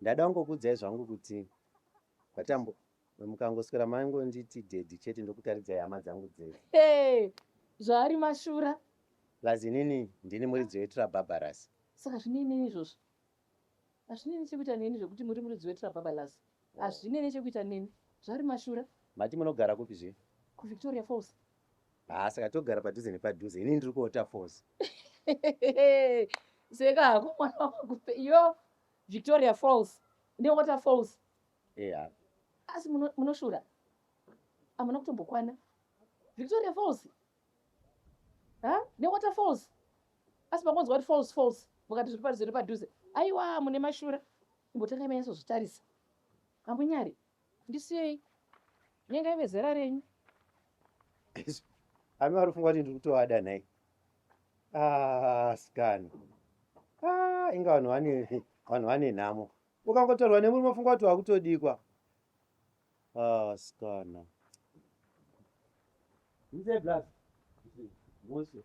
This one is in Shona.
Ndada kungokuudzai zvangu kuti kwaTambu mukangoswera maingonditi daddy chete ndokutaridzai hama dzangu dzese. Hey, zvaari mashura. Plus inini ndini muridzi weTrababalas. Saka zvine inini izvozvo? Hazvine nechekuita neni zvekuti muri muridzi weTrababalas. Hazvine nechekuita neni. Zvaari mashura. Mati munogara kupi zve? KuVictoria Falls. Haa saka togara padhuze nepadhuze ini ndiri kuota force. Seka hako mwana wamagupe iyo Victoria Falls neWater Falls. Eya. Asi munoshura. Amuna kutombokwana. Victoria Falls. Ha? NeWater Falls. Asi makonzwa kuti falls falls mukati zviri padhuze nepadhuze. Aiwa mune mashura. Imbotanga imanyaso zvitarisa. Amunyari. Ndisiyei nyangai vezera renyu. Ami warifunga kuti ndiri kutoada nhai? Ah, sikana. Ah, inga vanhu vane vanhu vane nhamo. Ukangotorwa nemurume ufunga kuti wakutodikwa. Ah, sikana. Mzee Blast. Mose.